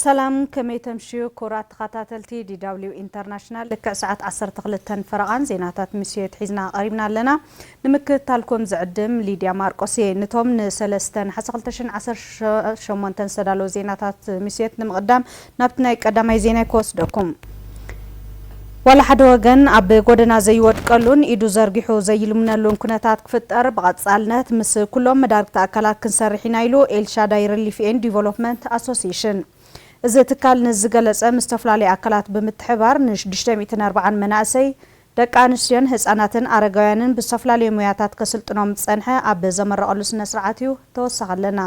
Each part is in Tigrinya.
ሰላም ከመይ ተምሽዩ ክቡራት ተኻታተልቲ DW ኢንተርናሽናል ልክዕ ሰዓት ዓሰርተ ክልተን ፈረቓን ዜናታት ምሽት ሒዝና ቐሪብና ኣለና ንምክትታልኩም ዝዕድም ሊድያ ማርቆስ እየ ንቶም ንሰለስተ ነሓሰ ክልተ ሽሕን ዓሰርተ ሸሞንተን ዝተዳለዉ ዜናታት ምሽት ንምቕዳም ናብቲ ናይ ቀዳማይ ዜናይ ክወስደኩም ዋላ ሓደ ወገን ኣብ ጎደና ዘይወድቀሉን ኢዱ ዘርጊሑ ዘይልምነሉን ኩነታት ክፍጠር ብቐፃልነት ምስ ኩሎም መዳርግቲ ኣካላት ክንሰርሕ ኢና ኢሉ ኤልሻዳይ ርሊፍ ኤንድ ዲቨሎፕመንት ኣሶሴሽን። እዚ ትካል ነዚ ዝገለፀ ምስ ዝተፈላለዩ ኣካላት ብምትሕብባር ን ሽዱሽተ ሚእትን ኣርብዓን መናእሰይ፣ ደቂ ኣንስትዮን ህፃናትን ኣረጋውያንን ብዝተፈላለዩ ሞያታት ከስልጥኖም ዝፀንሐ ኣብ ዘመረቐሉ ስነ ስርዓት እዩ። ተወሳኺ ኣለና።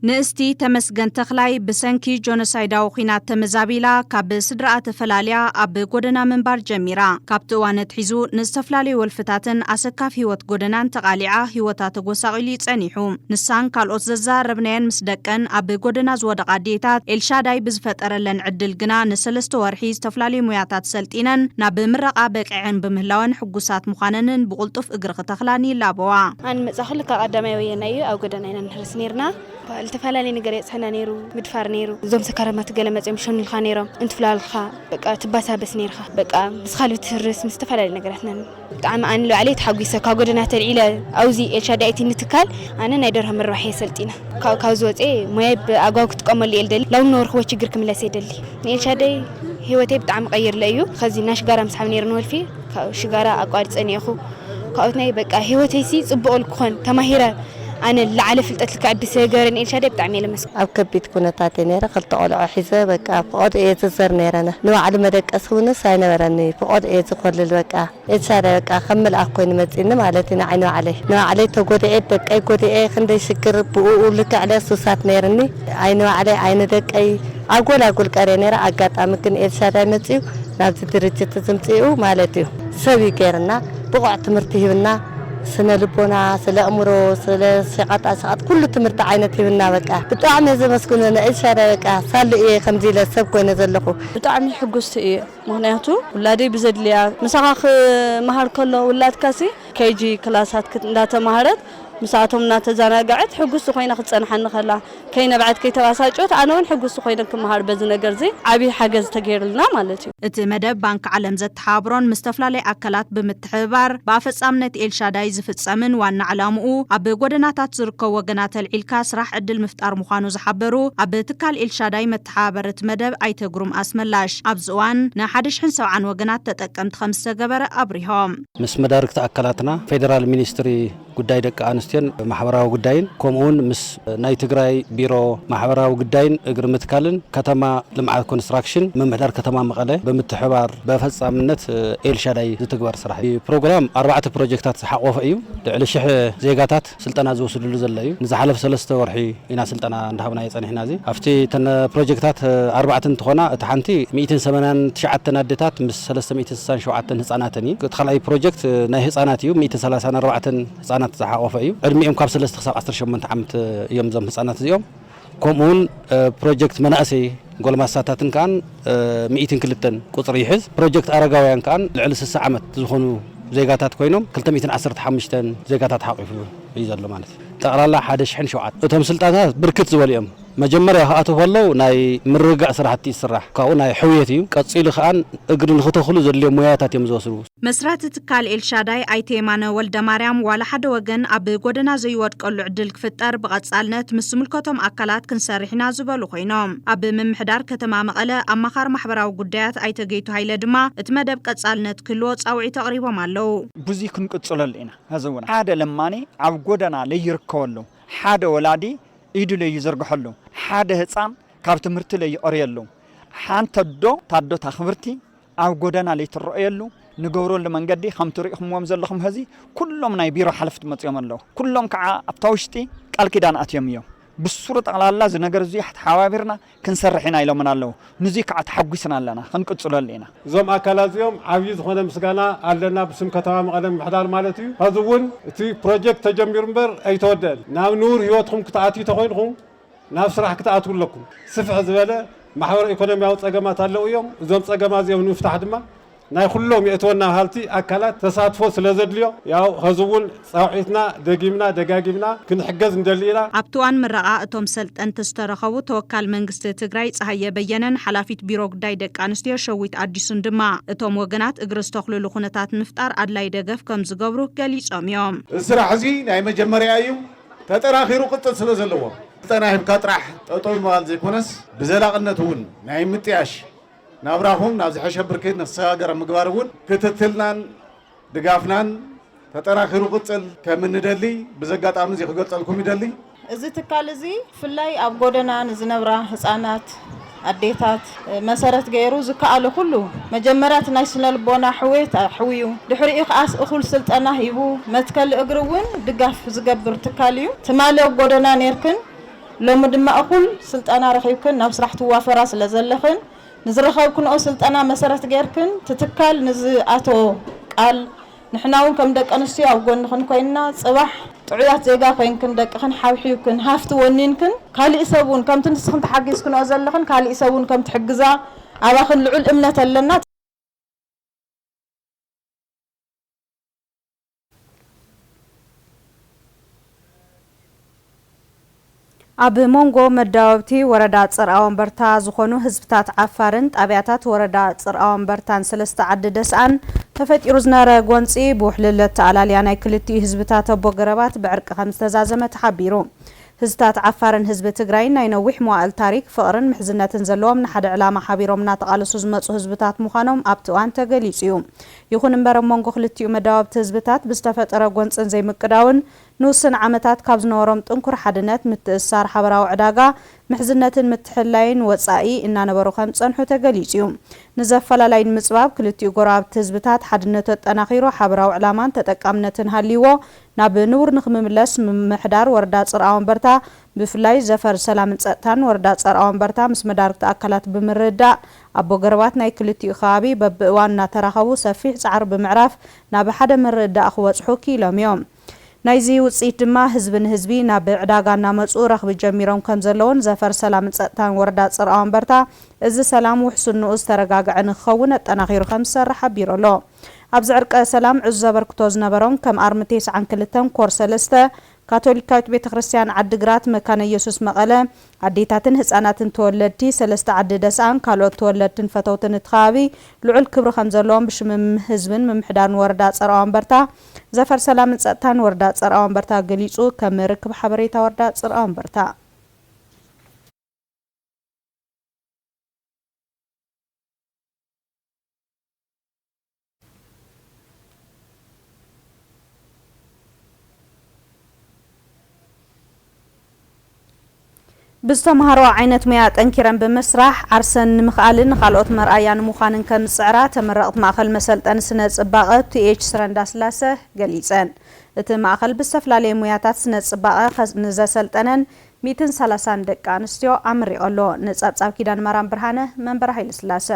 ንእስቲ ተመስገን ተኽላይ ብሰንኪ ጆኖሳይዳዊ ኲናት ተመዛቢላ ካብ ስድራኣ ተፈላልያ ኣብ ጎደና ምንባር ጀሚራ። ካብቲ እዋን ኣትሒዙ ንዝተፈላለዩ ወልፍታትን ኣሰካፊ ህይወት ጎደናን ተቓሊዓ ህይወታ ተጎሳቒሉ እዩ ጸኒሑ። ንሳን ካልኦት ዘዘራረብናየን ምስ ደቀን ኣብ ጎደና ዝወደቓ ኣዴታት ኤልሻዳይ ብዝፈጠረለን ዕድል ግና ንሰለስተ ወርሒ ዝተፈላለዩ ሞያታት ሰልጢነን ናብ ምረቓ በቂዐን ብምህላወን ሕጉሳት ምዃነንን ብቕልጡፍ እግሪ ክተኽላን ይላበዋ። ኣነ ምጻ ክሉ ካብ ቀዳማይ ወየናይ እዩ ኣብ ጎደና ኢና ንሕልስ ነይርና ልተፈላለየ ነገር የጽሕና ነይሩ ምድፋር ነይሩ እዞም ሰካራማት ገለ መጺኦም ሸኑልካ ነይሮም እንትፍላልካ በቃ ትባሳበስ ነይርካ በቃ ምስ ካልቢ ትህርስ ምስ ዝተፈላለዩ ነገራት ና ብጣዕሚ ኣነ ንባዕለይ ተሓጒሰ ካብ ጎደና ተልዒለ ኣብዚ ኤልሻዳይቲ ንትካል ኣነ ናይ ደርሆ ምርባሕ እየ ሰልጢነ ካብ ዝወፀ ሞያይ ብኣግባቡ ክጥቀመሉ እየ ልደሊ ላው ንነበርክዎ ችግር ክምለስ እየ ደሊ ንኤልሻዳይ ህይወተይ ብጣዕሚ ቀይርለ እዩ ከዚ እና ሽጋራ ምስሓብ ነይሩ ንወልፊ ካብ ሽጋራ ኣቋሪፀ ነይኹ ካብኦት ናይ በቃ ህይወተይሲ ፅቡቕ ልክኾን ተማሂረ ኣነ ልዓለ ፍልጠት ልክዕ ኣቢ ስለ ገበረኒ ኤልሻዳይ ብጣዕሚ እየ ለመስግኖ። ኣብ ከቢድ ኩነታት እየ ነይረ ክልተ ቆልዑ ሒዘ በቃ ፍቆድ እየ ዝዘር ነይረ ንባዕሉ መደቀሲ እውንስ ኣይነበረኒ ፍቆድ እየ ዝኮልል በቃ ኤልሻዳይ በቃ ከም ምልኣክ ኮይኑ መፂኒ ማለት እዩ ንዓይ ንባዕለይ ንባዕለይ ተጎዲኤ ደቀይ ጎዲኤ ክንደይ ሽግር ብኡኡ ልክዕ ለ ሱሳት ነይርኒ ኣይ ንባዕለይ ኣይ ንደቀይ ኣጎል ኣጎል ቀርየ ነይረ ኣጋጣሚ ግን ኤልሻዳይ መፂኡ ናብዚ ድርጅት ዝምፅኡ ማለት እዩ ሰብ እዩ ገይርና ብቁዕ ትምህርቲ ሂብና ስነ ልቦና ስለ ኣእምሮ ስለ ሸቀጣ ሸቀጥ ኩሉ ትምህርቲ ዓይነት ሂብና በቃ ብጣዕሚ እየ ዘመስግኖ ን ኤልሻዳይ በቃ ሳሉ እየ ከምዚ ኢለ ሰብ ኮይነ ዘለኩ። ብጣዕሚ ሕጉስቲ እየ ምክንያቱ ውላደይ ብዘድልያ ምሳካ ክማሃር ከሎ ውላድካ ሲ KG ክላሳት እንዳ ተማሃረት ምሳኣቶም እና ተዛናገዐት ሕጉስቲ ኮይና ክትጸንሓኒ ከላ። ከይነብዐት ከይተባሳጨወት ኣነ ውን ሕጉስቲ ኮይነ ክመሃር በዚ ነገርዚ ዓብይ ሓገዝ ተገይሩልና ማለት እዩ። እቲ መደብ ባንኪ ዓለም ዘተሓባብሮን ምስ ተፈላለዩ ኣካላት ብምትሕብባር ብኣፈፃምነት ኤልሻዳይ ዝፍፀምን ዋና ዕላምኡ ኣብ ጎደናታት ዝርከቡ ወገናት ኣልዒልካ ስራሕ ዕድል ምፍጣር ምዃኑ ዝሓበሩ ኣብ ትካል ኤልሻዳይ መተሓባበሪ እቲ መደብ ኣይተ ግሩም ኣስመላሽ ኣብዚ እዋን ንሓደ ሽሕን ሰብዓን ወገናት ተጠቀምቲ ከምዝተገበረ ኣብሪሆም። ምስ መዳርግቲ ኣካላትና ፌደራል ሚኒስትሪ ጉዳይ ደቂ ኣንስትዮን ማሕበራዊ ጉዳይን ከምኡ ውን ምስ ናይ ትግራይ ቢሮ ማሕበራዊ ግዳይን እግሪ ምትካልን ከተማ ልምዓት ኮንስትራክሽን ምምሕዳር ከተማ መቐለ ብምትሕብባር በፈፃምነት ኤልሻዳይ ዝትግበር ስራሕ እዩ። ፕሮግራም ኣርባዕተ ፕሮጀክታት ዝሓቖፈ እዩ። ልዕሊ ሽሕ ዜጋታት ስልጠና ዝወስድሉ ዘሎ እዩ። ንዝሓለፈ ሰለስተ ወርሒ። ኢና ስልጠና እንዳሃብናዮ ጸኒሕና እዚ ኣብቲ እተን ፕሮጀክታት ኣርባዕተ እንትኾና እቲ ሓንቲ ሚእትን ሰማንያን ትሽዓተን ኣዴታት ምስ ሰለስተ ሚእትን ስሳን ሸውዓተን ህጻናተን እዩ እቲ ካልኣይ ፕሮጀክት ናይ ህጻናት እዩ ሚእትን ሰላሳን ኣርባዕተን ህጻናት ዝሓቖፈ እዩ ዕድሚኦም ካብ ሰለስተ ክሳብ ዓሰርተ ሸሞንተ ዓመት እዮም እዞም ህጻናት እዚኦም ከምኡ ውን ፕሮጀክት መናእሰይ ጎልማሳታትን ከኣን ሚእትን ክልተን ቁጽሪ ይሕዝ ፕሮጀክት ኣረጋውያን ከኣን ልዕሊ ስሳ ዓመት ዝኾኑ ዜጋታት ኮይኖም ክልተ ሚእትን ዓሰርተ ሓሙሽተን ዜጋታት ሓቒፉ እዩ ዘሎ ማለት እዩ ጠቕላላ ሓደ ሽሕን ሸውዓተን። እቶም ስልጣንታት ብርክት ዝበሉ እዮም። መጀመርያ ክኣትው ከለው ናይ ምርግጋእ ስራሕቲ እዩ ዝስራሕ። ካብኡ ናይ ሕውየት እዩ። ቀፂሉ ከዓ እግሪ ንክተኽሉ ዘድልዮም ሞያታት እዮም ዝወስዱ። መስራቲ ትካል ኤልሻዳይ ኣይተ የማነ ወልደማርያም፣ ዋላ ሓደ ወገን ኣብ ጎደና ዘይወድቀሉ ዕድል ክፍጠር ብቐፃልነት ምስ ዝምልከቶም ኣካላት ክንሰርሕ ኢና ዝበሉ ኮይኖም፣ ኣብ ምምሕዳር ከተማ መቐለ ኣማኻሪ ማሕበራዊ ጉዳያት ኣይተ ገይቱ ሃይለ ድማ እቲ መደብ ቀፃልነት ክህልዎ ፃውዒት ኣቕሪቦም ኣለው። ብዙይ ክንቅፅለሉ ኢና። ሐዚ እውን ሓደ ለማኒ ኣብ ጎደና ለይርከበሉ፣ ሓደ ወላዲ ኢዱ ለይዝርግሐሉ፣ ሓደ ህፃን ካብ ትምህርቲ ለይቐርየሉ፣ ሓንቲ ኣዶ ታዶታ ክብርቲ ኣብ ጎደና ለይትረኦየሉ ንገብረሉ መንገዲ ከምቲ ሪኢኹምዎም ዘለኹም ሐዚ ኩሎም ናይ ቢሮ ሓለፍቲ መፂኦም ኣለው። ኩሎም ከዓ ኣብታ ውሽጢ ቃል ኪዳን ኣትዮም እዮም። ብሱሩ ጠቕላላ እዚ ነገር እዙይ ኣተሓባቢርና ክንሰርሕ ኢና ኢሎምና ኣለዉ። ንዙይ ከዓ ተሓጒስና ኣለና። ክንቅፅለሉ ኢና። እዞም ኣካላት እዚኦም ዓብዪ ዝኾነ ምስጋና ኣለና ብስም ከተማ መቐለ ምምሕዳር ማለት እዩ። ሐዚ እውን እቲ ፕሮጀክት ተጀሚሩ እምበር ኣይተወደእን። ናብ ንቡር ህይወትኹም ክትኣትዩ ተኾይንኹም ናብ ስራሕ ክትኣትዉ ኣለኩም። ስፍሕ ዝበለ ማሕበረ ኢኮኖሚያዊ ፀገማት ኣለዉ እዮም። እዞም ፀገማት እዚኦም ንምፍታሕ ድማ ናይ ኩሎም የእትወና በሃልቲ ኣካላት ተሳትፎ ስለዘድልዮ ያው ኸዚ እውን ፃውዒትና ደጊምና ደጋጊምና ክንሕገዝ ንደሊ ኢና። ኣብቲ እዋን ምረቓ እቶም ሰልጠንቲ ዝተረኸቡ ተወካል መንግስቲ ትግራይ ፀሃየ በየነን ሓላፊት ቢሮ ጉዳይ ደቂ ኣንስትዮ ሸዊት ኣዲሱን ድማ እቶም ወገናት እግሪ ዝተኽሉሉ ኩነታት ንምፍጣር ኣድላይ ደገፍ ከምዝገብሩ ገሊፆም እዮም። እዚ ስራሕ እዚ ናይ መጀመርያ እዩ፣ ተጠናኺሩ ክቕፅል ስለዘለዎ ስልጠና ሂብካ ጥራሕ ጠጠው ምባል ዘይኮነስ ብዘላቕነት እውን ናይ ምጥያሽ፣ ናብራኹም ናብ ዝሐሸ ብርኪ ንክሰጋገር ኣብ ምግባር እውን ክትትልናን ድጋፍናን ተጠናኺሩ ክቕፅል ከም እንደሊ ብዚ ኣጋጣሚ እዚ ክገልፀልኩም ይደሊ። እዚ ትካል እዚ ብፍላይ ኣብ ጎደና ንዝነብራ ህፃናት፣ ኣዴታት መሰረት ገይሩ ዝከኣሎ ኩሉ መጀመርያ እቲ ናይ ስነልቦና ሕውየት ኣሕውዩ ድሕሪኡ ከኣስ እኹል ስልጠና ሂቡ መትከሊ እግሪ እውን ድጋፍ ዝገብር ትካል እዩ። ትማሊ ኣብ ጎደና ነይርክን ሎሚ ድማ እኹል ስልጠና ረኺብክን ናብ ስራሕ ትዋፈራ ስለዘለኽን ንዝረኸብክንኦ ስልጠና መሰረት ገይርክን እቲ ትካል ንዝኣተዎ ቃል ንሕና ውን ከም ደቂ ኣንስትዮ ኣብ ጎንኽን ኮይንና ፅባሕ ጥዑያት ዜጋ ኮይንክን ደቅኽን ሓብሒብክን ሃፍቲ ወኒንክን ካሊእ ሰብ ውን ከምቲ ንስኽን ተሓጊዝክንኦ ዘለኽን ካሊእ ሰብ ውን ከም ትሕግዛ ኣባኽን ልዑል እምነት ኣለና። ኣብ ሞንጎ መዳወብቲ ወረዳ ጽርኣወንበርታ ዝኾኑ ህዝብታት ዓፋርን ጣብያታት ወረዳ ጽርኣወንበርታን ሰለስተ ዓዲ ደስኣን ተፈጢሩ ዝነበረ ጎንጺ ብውሕልል ኣተኣላልያ ናይ ክልቲኡ ህዝብታት ኣቦ ገረባት ብዕርቂ ከምዝተዛዘመ ተሓቢሩ። ህዝታት ዓፋርን ህዝቢ ትግራይን ናይ ነዊሕ መዋእል ታሪክ፣ ፍቕርን ምሕዝነትን ዘለዎም ንሓደ ዕላማ ሓቢሮም እናተቓለሱ ዝመጹ ህዝብታት ምዃኖም ኣብቲ እዋን ተገሊጹ እዩ። ይኹን እምበር ኣብ መንጎ ክልቲኡ መዳወብቲ ህዝብታት ብዝተፈጠረ ጎንፅን ዘይምቅዳውን ንውስን ዓመታት ካብ ዝነበሮም ጥንኩር ሓድነት፣ ምትእስሳር፣ ሓበራዊ ዕዳጋ፣ ምሕዝነትን ምትሕልላይን ወፃኢ እናነበሩ ከምዝፀንሑ ተገሊፁ ዩ። ንዘፈላላይ ንምፅባብ ክልቲኡ ጎረባብቲ ህዝብታት ሓድነቱ ኣጠናኺሩ ሓበራዊ ዕላማን ተጠቃምነትን ሃልይዎ ናብ ንቡር ንክምምለስ ምምሕዳር ወረዳ ፅርኣወንበርታ ብፍላይ ዘፈር ሰላምን ፀጥታን ወረዳ ፀርኣወንበርታ ምስ መዳርግቲ ኣካላት ብምርድዳእ ኣቦ ገረባት ናይ ክልቲኡ ከባቢ በብእዋኑ እናተራኸቡ ሰፊሕ ፃዕሪ ብምዕራፍ ናብ ሓደ ምርድዳእ ክበፅሑ ክኢሎም እዮም። ናይዚ ውፅኢት ድማ ህዝቢ ንህዝቢ ናብ ዕዳጋ እናመፁ ረኽቢ ጀሚሮም ከምዘለውን ዘፈር ሰላምን ፀጥታን ወረዳ ፅርኣወንበርታ እዚ ሰላም ውሕስንኡ ዝተረጋገዐ ንክኸውን ኣጠናኺሩ ከምዝሰርሕ ሓቢሩ ኣሎ። ኣብዚ ዕርቀ ሰላም ዕዙዝ ኣበርክቶ ዝነበሮም ከም ኣርሚ ቴስዓን ክልተን ኮር ሰለስተ ካቶሊካዊት ቤተ ክርስትያን ዓዲ ግራት መካነ ኢየሱስ መቐለ ኣዴታትን ህፃናትን ተወለድቲ ሰለስተ ዓዲ ደስኣን ካልኦት ተወለድትን ፈተውትን እቲ ከባቢ ልዑል ክብሪ ከምዘለዎም ብሽም ህዝብን ምምሕዳርን ወረዳ ፀርኣወንበርታ ዘፈር ሰላምን ፀጥታን ወረዳ ፀርኣወንበርታ ገሊፁ ከም ርክብ ሓበሬታ ወረዳ ፅርኣወንበርታ ብዝተምሃርኦ ዓይነት ሞያ ጠንኪረን ብምስራሕ ዓርሰን ንምኽኣልን ንኻልኦት መርኣያ ንምዃንን ከምዝፅዕራ ተመረቕቲ ማእኸል መሰልጠኒ ስነ ፅባቐ ቱኤች ስረ እንዳስላሰ ገሊፀን። እቲ ማእኸል ብዝተፈላለየ ሞያታት ስነ ፅባቐ ንዘሰልጠነን ሚእትን ሰላሳን ደቂ ኣንስትዮ ኣመሪቐ ኣሎ። ንፀብፃብ ኪዳነማርያም ብርሃነ መንበረ ሃይለስላሰ።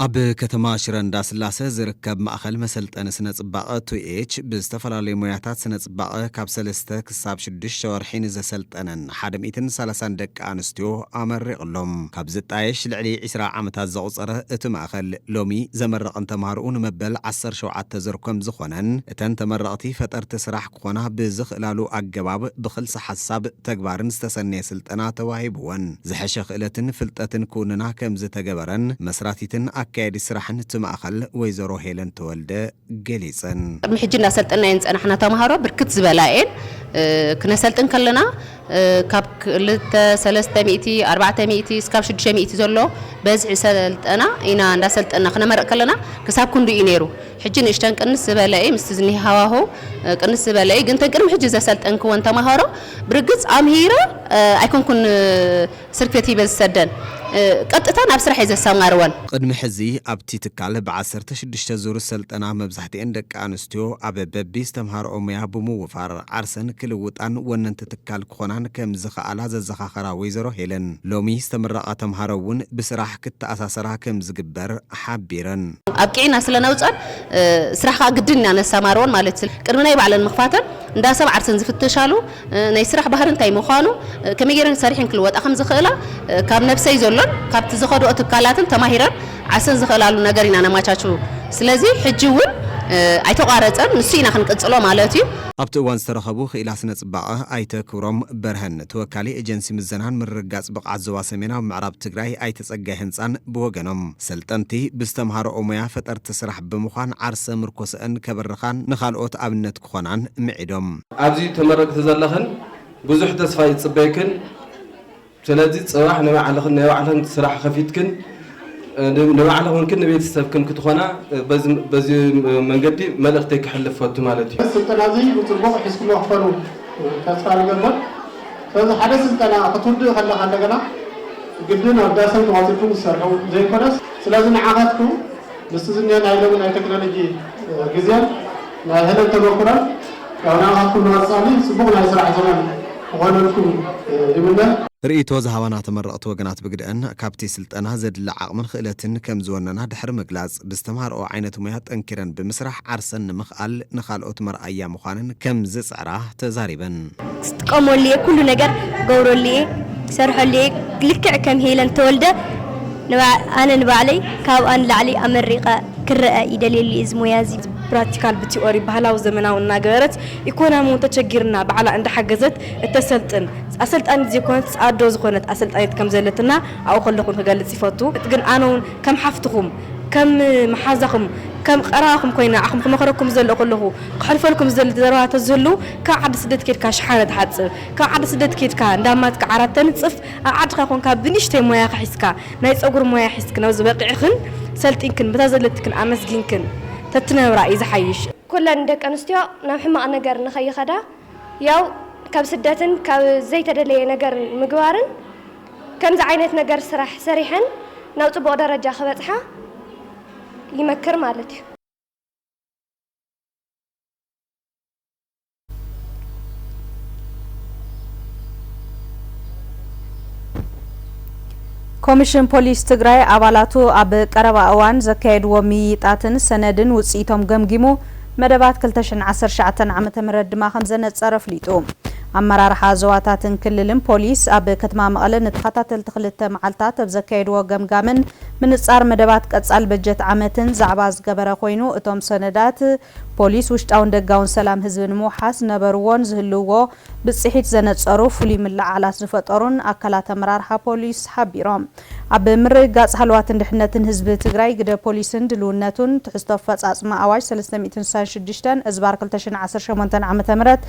ኣብ ከተማ ሽረ እንዳስላሰ ዝርከብ ማእኸል መሰልጠኒ ስነ ፅባቐ ቱኤች ብዝተፈላለዩ ሞያታት ስነ ፅባቐ ካብ ሰለስተ ክሳብ ሽዱሽተ ወርሒ ንዘሰልጠነን ሓደ ሚእትን ሰላሳን ደቂ ኣንስትዮ ኣመሪቕ'ሎ። ካብ ዝጣየሽ ልዕሊ ዕስራ ዓመታት ዘቑፀረ እቲ ማእኸል ሎሚ ዘመረቐን ተምሃርኡ ንመበል ዓሰርተ ሸውዓተ ዙር ከምዝኾነን እተን ተመረቕቲ ፈጠርቲ ስራሕ ክኾና ብዝኽእላሉ ኣገባብ ብክልሰ ሓሳብ ተግባርን ዝተሰነየ ስልጠና ተዋሂብወን ዝሐሸ ክእለትን ፍልጠትን ክውንና ከምዝተገበረን መስራቲትን ኣካያዲት ስራሕን እቲ ማእኸል ወይዘሮ ሄለን ተወልደ ገሊፀን። ቅድሚ ሕጂ እናሰልጠንናየን ዝፀናሕና ተምሃሮ ብርክት ዝበላ እየን። ክነሰልጥን ከለና ካብ ክልተ ሰለስተ ሚእቲ ኣርባዕተ ሚእቲ እስካብ ሽዱሽተ ሚእቲ ዘሎ በዝሒ ሰልጠና ኢና እንዳሰልጠና ክነመርቅ ከለና ክሳብ ክንዱ እዩ ነይሩ ሕጂ ንእሽተን ቅንስ ዝበለ እዪ ምስቲ ዝኒሀ ሃዋህው ቅንስ ዝበለ እዪ ግን ተን ቅድሚ ሕጂ ዘሰልጠንክወን ተማሃሮ ብርግፅ ኣምሂረ ኣይኮንኩን ስርክት ይብል ዝሰደን ቀጥታ ናብ ስራሕ እየ ዘሰማርወን። ቕድሚ ሕዚ ኣብቲ ትካል ብ ዓሰርተ ሽዱሽተ ዙር ሰልጠና መብዛሕትኤን ደቂ ኣንስትዮ ኣብ በቢ ዝተምሃርኦ ሙያ ብምውፋር ዓርሰን ክልውጣን ወነንቲ ትካል ክኾናን ከም ዝኸኣላ ዘዘኻኸራ ወይዘሮ ሄለን ሎሚ ዝተምረቓ ተምሃሮ እውን ብስራሕ ክተኣሳሰራ ከም ዝግበር ሓቢረን። ኣብቂዕና ስለ ነውፀን ስራሕ ከዓ ግድን ኢና ነሰማርወን ማለት ቅድሚ ናይ ባዕለን ምኽፋተን እንዳ ሰብ ዓርሰን ዝፍተሻሉ ናይ ስራሕ ባህሪ እንታይ ምዃኑ፣ ከመይ ገይረን ሰሪሐን ክልወጣ ከም ዝኽእላ፣ ካብ ነብሰይ ዘሎን ካብቲ ዝኸድኦ ትካላትን ተማሂረን ዓርሰን ዝኽእላሉ ነገር ኢና ነማቻቹ። ስለዚ ሕጂ እውን ኣይተቋረጸን፣ ንሱ ኢና ክንቅጽሎ ማለት እዩ። ኣብቲ እዋን ዝተረኸቡ ክኢላ ስነ ፅባቐ ኣይተ ክብሮም በርሀን ተወካሊ ኤጀንሲ ምዘናን ምርግጋፅ ብቕዓት ዞባ ሰሜናዊ ምዕራብ ትግራይ ኣይተ ፀጋይ ህንፃን ብወገኖም ሰልጠንቲ ብዝተምሃረኦ ሙያ ፈጠርቲ ስራሕ ብምዃን ዓርሰ ምርኮሰኣን ከበርኻን ንኻልኦት ኣብነት ክኾናን ምዒዶም። ኣብዚ ተመረቅቲ ዘለኽን ብዙሕ ተስፋ ይፅበየክን ስለዚ ፅባሕ ናይ ባዕልኽን ናይ ባዕልኽን ስራሕ ኸፊትክን ንባዕልኽንክን ንቤተሰብክን ክትኾና በዚ መንገዲ መልእኽተይ ከሕልፍ ፈቱ ማለት እዩ። ስልጠና እዚ ብፅቡቅ ሒዝኩሞ ክትኮኑ ተስፋ ንገብር ስለዚ ሓደ ስልጠና ክትውድእ ከለካ እንደገና ግድን ኣብ ዳሰን ተዋፂኩም ዝሰርሑ ዘይኮነስ ስለዚ ንዓካትኩም ምስቲ ዝኒሀ ናይ ሎሚ ናይ ቴክኖሎጂ ግዜን ናይ ሕደት ተመኩሮን ያው ንዓኻትኩም ንቐፃሊ ፅቡቕ ናይ ስራሕ ዘመን ክኾነልኩም ይምነ። ርእይቶ ዝሃባና ተመረቕቲ ወገናት ብግደኣን፣ ካብቲ ስልጠና ዘድሊ ዓቕምን ኽእለትን ከም ዝወነና ድሕሪ ምግላፅ፣ ብዝተምሃርኦ ዓይነት ሙያ ጠንኪረን ብምስራሕ ዓርሰን ንምኽኣል ንኻልኦት መርኣያ ምዃነን ከም ዝፅዕራ ተዛሪበን። ክጥቀመሉ እየ ኩሉ ነገር ክገብረሉ እየ ክሰርሐሉ እየ ልክዕ ከም ሄለን ተወልደ ኣነ ንባዕለይ ካብኣ ንላዕሊ ኣመሪቀ ክረኣ ይደልየሉ እየ እዚ ሞያ እዚ። ፕራክቲካል ብቲኦሪ ባህላዊ ዘመናዊ እናገበረት ኢኮናሚ እውን ተቸጊርና ባዕላ እንዳሓገዘት እተሰልጥን ኣሰልጣኒት ዘይኮነትስ ኣዶ ዝኾነት ኣሰልጣኒት ከምዘለትና ኣብኡ ከለኹ እውን ክገልፅ ይፈቱ ግን ኣነ እውን ከም ሓፍትኹም ከም መሓዛኹም ከም ቀረባኹም ኮይነ ንዓኹም ክመኽረኩም ዝደለኹ ከለኹ ክሐልፈልኩም ዝደሊ ዘረባ ተዝህሉ ካብ ዓዲ ስደት ኬድካ ሽሓነ ትሓጽብ ካብ ዓዲ ስደት ኬድካ እንዳማትካ ዓራት ተንጽፍ ኣብ ዓድካ ኮንካ ብንእሽተይ ሞያኪ ሒዝካ ናይ ጸጉሪ ሞያ ሒዝክን ኣብዚ በቂዕክን ሰልጢንክን በታ ዘለትክን ኣመስጊንክን ተትነብራ እዩ ዝሓይሽ። ኩለን ደቂ ኣንስትዮ ናብ ሕማቅ ነገር ንከይከዳ ያው ካብ ስደትን ካብ ዘይተደለየ ነገር ምግባርን ከምዚ ዓይነት ነገር ስራሕ ሰሪሐን ናብ ጽቡቅ ደረጃ ክበጽሓ ይመክር ማለት እዩ። ኮሚሽን ፖሊስ ትግራይ ኣባላቱ ኣብ ቀረባ እዋን ዘካየድዎ ምይይጣትን ሰነድን ውፅኢቶም ገምጊሙ መደባት ክልተ ሽሕን ዓሰርተ ትሽዓተን ዓመተ ምህረት ድማ ከምዘነፀረ ኣፍሊጡ። ኣመራርሓ ዞባታትን ክልልን ፖሊስ ኣብ ከተማ መቐለ ንተኸታተልቲ ክልተ መዓልታት ኣብ ዘካየድዎ ገምጋምን ምንጻር መደባት ቀጻሊ በጀት ዓመትን ዛዕባ ዝገበረ ኮይኑ፣ እቶም ሰነዳት፣ ፖሊስ ውሽጣውን ደጋውን ሰላም ህዝቢ ንምውሓስ ዝነበርዎን ዝህልውዎ ብጽሒት ዘነጸሩ፣ ፍሉይ ምልዕዓላት ዝፈጠሩን ኣካላት ኣመራርሓ ፖሊስ ሓቢሮም። ኣብ ምርግጋጽ ሃለዋትን ድሕነትን ህዝቢ ትግራይ ግደ ፖሊስን ድልውነቱን፣ ትሕዝቶ ኣፈጻጽማ ኣዋጅ ሰለስተ ሚእትን ስሳን ሽዱሽተን እዝባር ክልተ ሽሕን ዓሰርተ ሸሞንተን ዓመተ ምህረት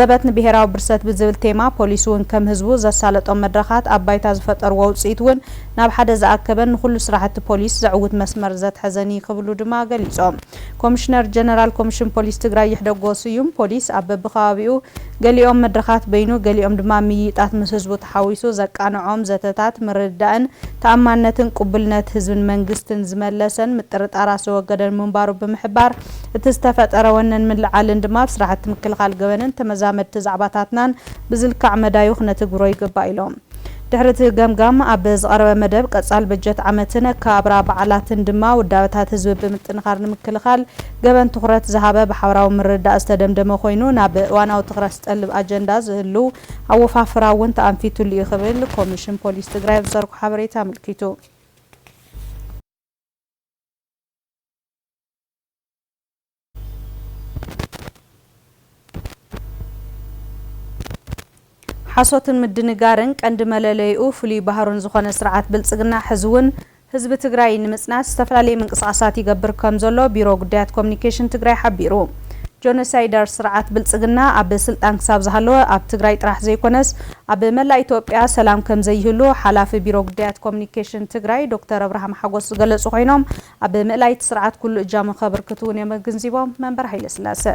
ዘበት ንብሄራዊ ብርሰት ብዝብል ቴማ፣ ፖሊስ'ውን ከም ህዝቡ ዘሳለጦም መድረኻት ኣብ ባይታ ዝፈጠርዎ ውጽኢት'ውን ናብ ሓደ ዝኣከበን ንኹሉ ስራሕቲ ፖሊስ ዘዕውት መስመር ዘትሐዘን እዪ ክብሉ ድማ ገሊፆም። ኮምሽነር ጀነራል ኮምሽን ፖሊስ ትግራይ ይሕደጎ ስዩም ፖሊስ ኣብ በቢከባቢኡ ገሊኦም መድረኻት በይኑ ገሊኦም ድማ ምይይጣት ምስ ህዝቡ ተሓዊሱ ዘቃንዖም ዘተታት ምርድዳእን ተኣማንነትን ቁቡልነት ህዝብን መንግስትን ዝመለሰን ምጥርጣራት ዘወገደን ምንባሩ ብምሕባር እቲ ዝተፈጠረ ወነን ምልዕዓልን ድማ ኣብ ስራሕቲ ምክልኻል ገበንን ተመዛመድቲ ዛዕባታትናን ብዝልካዕ መዳዩ ክነትግብሮ ይግባእ ኢሎም። ድሕሪ እቲ ገምጋም ኣብ ዝቐረበ መደብ ቀፃሊ በጀት ዓመትን ኣከባብራ በዓላትን ድማ ውዳበታት ህዝቢ ብምጥንኻር ንምክልኻል ገበን ትኹረት ዝሃበ ብሓበራዊ ምርድዳእ ዝተደምደመ ኮይኑ ናብ እዋናዊ ትኽረት ዝጠልብ ኣጀንዳ ዝህሉ ኣወፋፍራ እውን ተኣንፊትሉ እዩ ክብል ኮሚሽን ፖሊስ ትግራይ ኣብ ዝዘርጎ ሓበሬታ ኣመልኪቱ። ሓሶትን ምድንጋርን ቀንዲ መለለይኡ ፍሉይ ባህሩን ዝኾነ ስርዓት ብልፅግና ሕዚ እውን ህዝቢ ትግራይ ንምፅናት ዝተፈላለየ ምንቅስቓሳት ይገብር ከም ዘሎ ቢሮ ጉዳያት ኮሙኒኬሽን ትግራይ ሓቢሩ። ጆኖሳይደር ስርዓት ብልፅግና ኣብ ስልጣን ክሳብ ዝሃለወ ኣብ ትግራይ ጥራሕ ዘይኮነስ ኣብ መላእ ኢትዮጵያ ሰላም ከም ዘይህሉ ሓላፊ ቢሮ ጉዳያት ኮሙኒኬሽን ትግራይ ዶክተር ኣብርሃም ሓጎስ ዝገለፁ ኮይኖም ኣብ ምእላይ እቲ ስርዓት ኩሉ እጃሙ ከብርክት እውን እዮም ኣግንዚቦም መንበር ሃይለስላሰ።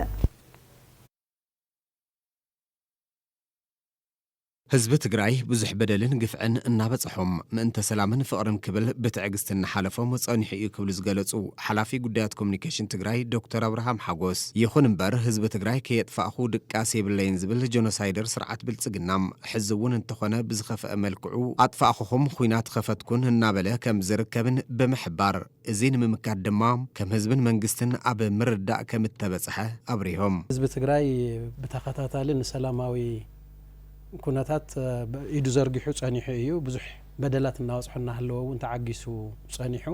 ህዝቢ ትግራይ ብዙሕ በደልን ግፍዕን እናበፀሖም ምእንተ ሰላምን ፍቕርን ክብል ብትዕግስቲ እናሓለፎም ፀኒሑ እዩ ክብሉ ዝገለፁ ሓላፊ ጉዳያት ኮሙኒኬሽን ትግራይ ዶክተር ኣብርሃም ሓጎስ ይኹን እምበር ህዝቢ ትግራይ ከየጥፋእኹ ድቃስ የብለይን ዝብል ጆኖሳይደር ስርዓት ብልፅግና ሕዚ እውን እንተኾነ ብዝኸፈኣ መልክዑ ኣጥፋእኹኹም ኹናት ኸፈትኩን እናበለ ከም ዝርከብን ብምሕባር እዙይ ንምምካት ድማ ከም ህዝብን መንግስትን ኣብ ምርድዳእ ከም እተበፅሐ ኣብሪሆም። ህዝቢ ትግራይ ብተኸታታሊ ንሰላማዊ ኩነታት ኢዱ ዘርጊሑ ፀኒሑ እዩ። ብዙሕ በደላት እናበፅሖ እናሃለወ እውን ተዓጊሱ ፀኒሑ።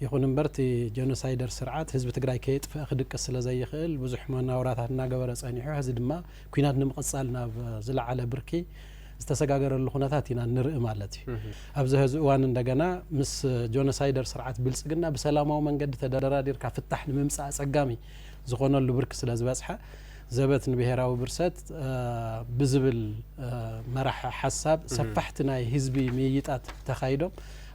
ይኹን እምበር እቲ ጀኖሳይደር ስርዓት ህዝቢ ትግራይ ከየጥፈኣ ክድቅስ ስለዘይኽእል ብዙሕ መናውራታት እናገበረ ፀኒሑ። ሕዚ ድማ ኲናት ንምቕጻል ናብ ዝለዓለ ብርኪ ዝተሰጋገረሉ ኩነታት ኢና ንርኢ ማለት እዩ። ኣብዚ ሀዚ እዋን እንደገና ምስ ጆኖሳይደር ስርዓት ብልጽግና ብሰላማዊ መንገዲ ተደራዲርካ ፍታሕ ንምምጻእ ኣጸጋሚ ዝኾነሉ ብርኪ ስለ ዝበጽሐ ዘበት ንብሄራዊ ብርሰት ብዝብል መራሒ ሓሳብ ሰፋሕቲ ናይ ህዝቢ ምይይጣት ተኻይዶም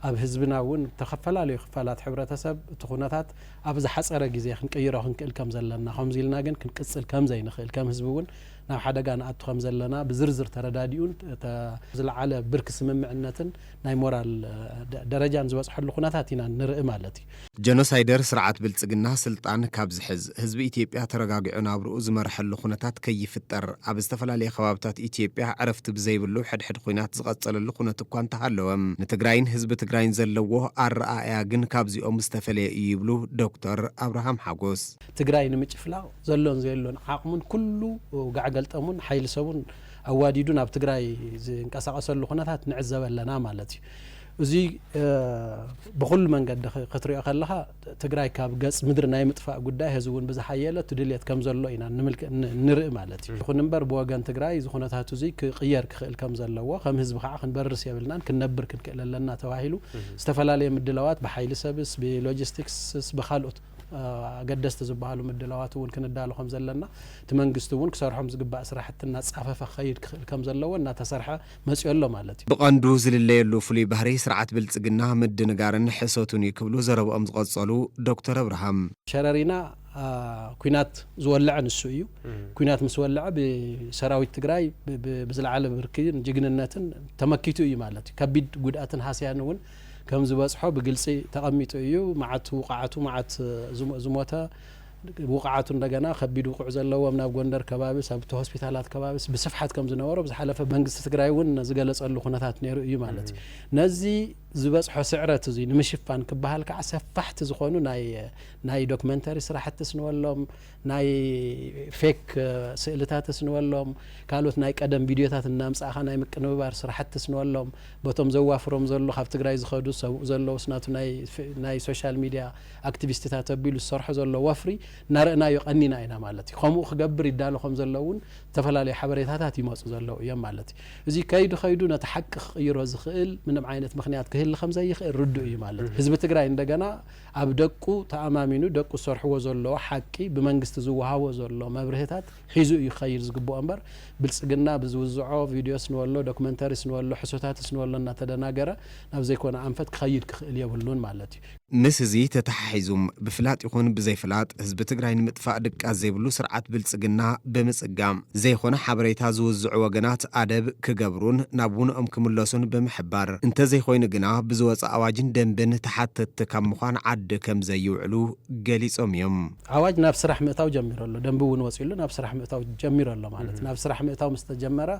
ኣብ ህዝብና እውን ተኸፈላለዩ ክፋላት ሕብረተሰብ እቲ ኩነታት ኣብ ዝሓጸረ ግዜ ክንቅይሮ ክንክእል ከም ዘለና፣ ከምዚ ኢልና ግን ክንቅጽል ከም ዘይንኽእል፣ ከም ህዝቢ እውን ናብ ሓደጋ ንኣቱ ከም ዘለና ብዝርዝር ተረዳዲኡን እታ ዝለዓለ ብርኪ ስምምዕነትን ናይ ሞራል ደረጃን ዝበጽሐሉ ኩነታት ኢና ንርኢ ማለት እዩ። ጀኖሳይደር ስርዓት ብልጽግና ስልጣን ካብ ዝሕዝ፣ ህዝቢ ኢትዮጵያ ተረጋጊዑ ናብርኡ ዝመርሐሉ ኩነታት ከይፍጠር፣ ኣብ ዝተፈላለየ ከባብታት ኢትዮጵያ ዕረፍቲ ብዘይብሉ ሕድሕድ ኹናት ዝቐፀለሉ ኩነት እኳ እንተሃለወ ንትግራይን ህዝቢ ትግራይን ዘለዎ ኣረኣእያ ግን ካብዚኦም ዝተፈለየ እዩ ይብሉ ዶክተር ኣብርሃም ሓጎስ። ትግራይ ንምጭፍላቕ ዘሎን ዘየሎን ዓቕሙን ኩሉ ጋዕገልጠሙን ሓይሊ ሰቡን ኣዋዲዱ ናብ ትግራይ ዝንቀሳቐሰሉ ኩነታት ንዕዘብ ኣለና ማለት እዩ። እዙይ ብኹሉ መንገዲ ክትሪኦ ከለኻ ትግራይ ካብ ገፅ ምድሪ ናይ ምጥፋእ ጉዳይ ሀዚ እውን ብዝሓየለ እቲ ድልየት ከምዘሎ ኢና ንርኢ ማለት እዩ። ይኹን እምበር ብወገን ትግራይ እዚ ኩነታት እዙይ ክቕየር ክኽእል ከምዘለዎ ከም ህዝቢ ከዓ ክንበርስ የብልናን ክንነብር ክንክእል ኣለና ተባሂሉ ዝተፈላለየ ምድላዋት ብሓይሊ ሰብስ፣ ብሎጂስቲክስስ ብካልኦት ኣገደስቲ ዝበሃሉ ምድላዋት እውን ክንዳሎ ከምዘለና እቲ መንግስቲ እውን ክሰርሖም ዝግባእ ስራሕቲ እናፃፈፈ ክኸይድ ክኽእል ከምዘለዎ እናተሰርሐ መጺኦ ኣሎ ማለት እዩ። ብቐንዱ ዝልለየሉ ፍሉይ ባህሪ ስርዓት ብልፅግና ምድንጋርን ሕሶቱን እዩ ክብሉ ዘረብኦም ዝቐፀሉ ዶክተር ኣብርሃም፣ ሸረሪና ኲናት ዝወለዐ ንሱ እዩ። ኲናት ምስ ወለዐ ብሰራዊት ትግራይ ብዝለዓለ ብርኪን ጅግንነትን ተመኪቱ እዩ ማለት እዩ። ከቢድ ጉድኣትን ሃስያን እውን ከምዝበፅሖ ብግልፂ ተቐሚጡ እዩ። መዓት ውቓዓቱ፣ መዓት ዝሞተ፣ ውቕዓቱ እንደገና ከቢድ ውቕዕ ዘለዎም ናብ ጎንደር ከባቢስ ኣብቲ ሆስፒታላት ከባቢስ ብስፍሓት ከም ዝነበሮ ብዝሓለፈ መንግስቲ ትግራይ እውን ዝገለፀሉ ኩነታት ነይሩ እዩ ማለት እዩ። ነዚ ዝበፅሖ ስዕረት እዙይ ንምሽፋን ክበሃል ከዓ ሰፋሕቲ ዝኾኑ ናይ ናይ ዶክመንተሪ ስራሕትስ ንበሎም ናይ ፌክ ስእልታትስ ንበሎም ካልኦት ናይ ቀደም ቪድዮታት እናምፃእኻ ናይ ምቅንብባር ስራሕትስ ንበሎም በቶም ዘዋፍሮም ዘሎ ካብ ትግራይ ዝኸዱ ሰብኡ ዘለውስ ናቱ ናይ ሶሻል ሚድያ ኣክቲቪስትታት ኣቢሉ ዝሰርሖ ዘሎ ወፍሪ እናረእናዮ ቀኒና ኢና ማለት እዩ። ከምኡ ክገብር ይዳሎ ከም ዘሎ እውን ዝተፈላለዩ ሓበሬታታት ይመፁ ዘለዉ እዮም ማለት እዩ። እዙይ ከይዱ ከይዱ ነቲ ሓቂ ክቕይሮ ዝኽእል ምንም ዓይነት ምኽንያት ክህሊ ከም ዘይኽእል ርዱእ እዩ ማለት እዩ። ህዝቢ ትግራይ እንደገና ኣብ ደቁ ተኣማሚኑ ደቁ ዝሰርሕዎ ዘለዉ ሓቂ ብመንግስቲ ዝወሃቦ ዘሎ መብርህታት ሒዙ እዩ ክኸይድ ዝግበኦ እምበር ብልፅግና ብዝውዝዖ ቪድዮስ ንበሎ ዶክመንተሪስ ንበሎ ሕሶታትስ ንበሎ እናተደናገረ ናብ ዘይኮነ ኣንፈት ክኸይድ ክኽእል የብሉን ማለት እዩ። ምስ እዚ ተተሓሒዙ ብፍላጥ ይኹን ብዘይ ፍላጥ ህዝቢ ትግራይ ንምጥፋእ ድቃስ ዘይብሉ ስርዓት ብልፅግና ብምፅጋም ዘይኾነ ሓበሬታ ዝውዝዑ ወገናት ኣደብ ክገብሩን ናብ ውነኦም ክምለሱን ብምሕባር እንተዘይኾይኑ ግና ብዝወፀ ኣዋጅን ደንብን ተሓተትቲ ካብ ምዃን ዓዲ ከምዘይውዕሉ ገሊፆም እዮም። ኣዋጅ ናብ ስራሕ ምእታው ጀሚሩ ኣሎ፣ ደንቢ እውን ወፂኡሉ ናብ ስራሕ ምእታው ጀሚሩ ኣሎ ማለት ናብ ስራሕ ምእታው ምስተጀመረ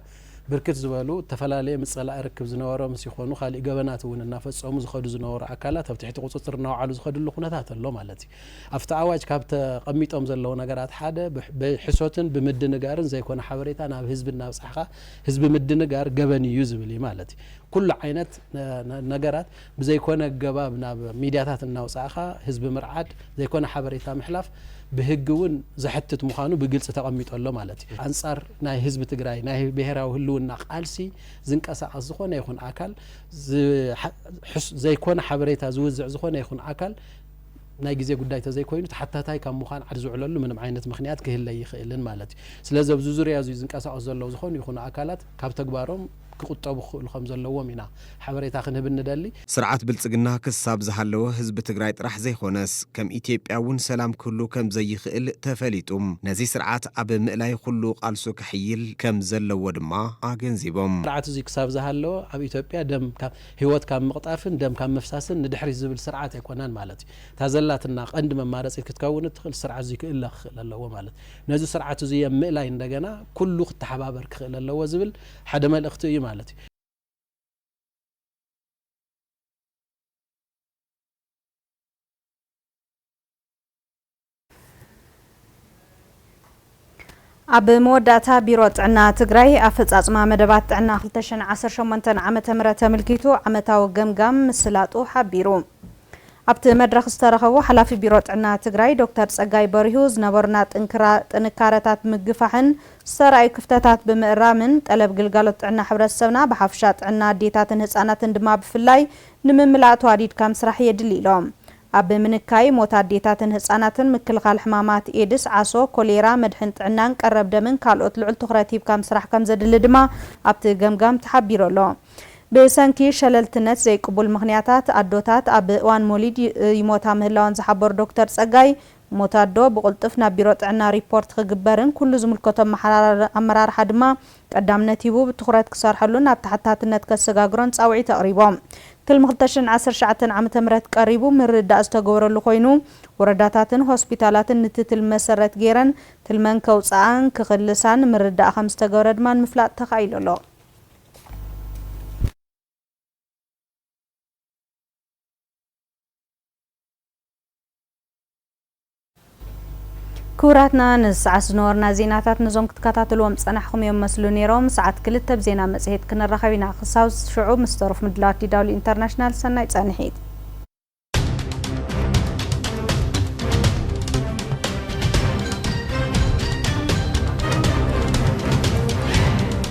ብርክት ዝበሉ እተፈላለየ ምጸላኢ ርክብ ዝነበሮም ምስ ይኾኑ ካሊእ ገበናት እውን እናፈጸሙ ዝኸዱ ዝነበሩ ኣካላት ኣብ ትሕቲ ቁጽጽር እናውዓሉ ዝኸድሉ ኩነታት ኣሎ ማለት እዩ። ኣብቲ ኣዋጅ ካብ ተቐሚጦም ዘለዉ ነገራት ሓደ ብሕሶትን ብምድንጋርን ዘይኮነ ሓበሬታ ናብ ህዝቢ እናብጻሕኻ ህዝቢ ምድንጋር ገበን እዩ ዝብል እዩ ማለት እዩ። ኩሉ ዓይነት ነገራት ብዘይኮነ ኣገባብ ናብ ሚድያታት እናውፃእኻ ህዝቢ ምርዓድ፣ ዘይኮነ ሓበሬታ ምሕላፍ ብህጊ እውን ዘሕትት ምዃኑ ብግልፂ ተቐሚጡ ኣሎ ማለት እዩ። ኣንፃር ናይ ህዝቢ ትግራይ ናይ ብሄራዊ ህልውና ቃልሲ ዝንቀሳቐስ ዝኾነ ይኹን ኣካል፣ ዘይኮነ ሓበሬታ ዝውዝዕ ዝኾነ ይኹን ኣካል ናይ ግዜ ጉዳይ ተዘይኮይኑ ተሓታታይ ካብ ምዃን ዓድ ዝውዕለሉ ምንም ዓይነት ምኽንያት ክህለ ኣይኽእልን ማለት እዩ። ስለዚ ኣብዚ ዙርያ እዙይ ዝንቀሳቐሱ ዘለዉ ዝኾኑ ይኹኑ ኣካላት ካብ ተግባሮም ክቑጠቡ ክኽእሉ ከም ዘለዎም ኢና ሓበሬታ ክንህብ እንደሊ። ስርዓት ብልፅግና ክሳብ ዝሃለወ ህዝቢ ትግራይ ጥራሕ ዘይኾነስ ከም ኢትዮጵያ እውን ሰላም ክህሉ ከም ዘይኽእል ተፈሊጡ ነዚ ስርዓት ኣብ ምእላይ ኹሉ ቓልሱ ከሕይል ከም ዘለዎ ድማ ኣገንዚቦም። ስርዓት እዙይ ክሳብ ዝሃለወ ኣብ ኢትዮጵያ ደም ካብ ህይወት ካብ ምቕጣፍን ደም ካብ ምፍሳስን ንድሕሪት ዝብል ስርዓት ኣይኮነን ማለት እዩ። እታ ዘላትና ቐንዲ መማረፂት ክትከውን እትኽእል ስርዓት እዙይ ክእለ ክኽእል ኣለዎ ማለት ነዚ ስርዓት እዙይ እም ምእላይ እንደገና ኩሉ ክተሓባበር ክኽእል ኣለዎ ዝብል ሓደ መልእኽቲ እዩ ማለት እዩ። ኣብ መወዳእታ ቢሮ ጥዕና ትግራይ ኣፈፃፅማ መደባት ጥዕና ክልተ ሽሕን ዓሰርተ ሸሞንተን ዓመተ ምህረት ተምልኪቱ ዓመታዊ ገምጋም ምስላጡ ሓቢሩ። ኣብቲ መድረኽ ዝተረኸቡ ሓላፊ ቢሮ ጥዕና ትግራይ ዶክተር ፀጋይ በሪሁ ዝነበሩና ጥንክራ ጥንካረታት ምግፋሕን ዝተራእዩ ክፍተታት ብምእራምን ጠለብ ግልጋሎት ጥዕና ሕብረተሰብና ብሓፈሻ ጥዕና ኣዴታትን ህፃናትን ድማ ብፍላይ ንምምላእ ተዋዲድካ ምስራሕ የድሊ ኢሎም። ኣብ ምንካይ ሞት ኣዴታትን ህፃናትን፣ ምክልኻል ሕማማት ኤድስ፣ ዓሶ፣ ኮሌራ፣ መድሕን ጥዕናን ቀረብ ደምን ካልኦት ልዑል ትኹረት ሂብካ ምስራሕ ከምዘድሊ ድማ ኣብቲ ገምጋም ተሓቢሩ ኣሎ። ብሰንኪ ሸለልትነት ዘይቅቡል ምኽንያታት ኣዶታት ኣብ እዋን ሞሊድ ይሞታ ምህላወን ዝሓበሩ ዶክተር ፀጋይ፣ ሞት ኣዶ ብቕልጡፍ ናብ ቢሮ ጥዕና ሪፖርት ክግበርን ኩሉ ዝምልከቶ ኣመራርሓ ድማ ቀዳምነት ሂቡ ብትኹረት ክሰርሐሉን ናብ ተሓታትነት ከሰጋግሮን ፃውዒት ኣቕሪቦም። ትልሚ ክልተ ሽሕን ዓሰርተ ትሽዓተን ዓመተ ምህረት ቀሪቡ ምርድዳእ ዝተገበረሉ ኮይኑ ወረዳታትን ሆስፒታላትን ንቲ ትልሚ መሰረት ገይረን ትልመን ከውፅኣን ክኽልሳን ምርድዳእ ከምዝተገበረ ድማ ንምፍላጥ ተኻኢሉ ኣሎ። ክቡራትና ነዚ ሰዓት ዝነበሩና ዜናታት ነዞም ክትከታተልዎም ዝጸናሕኹም እዮም መስሉ ነይሮም። ሰዓት ክልተ ብዜና መጽሔት ክንራኸብ ኢና። ክሳብ ሽዑ ምስ ተረፍ ምድላዋት ዲዳብሊው ኢንተርናሽናል ሰናይ ጸንሒት።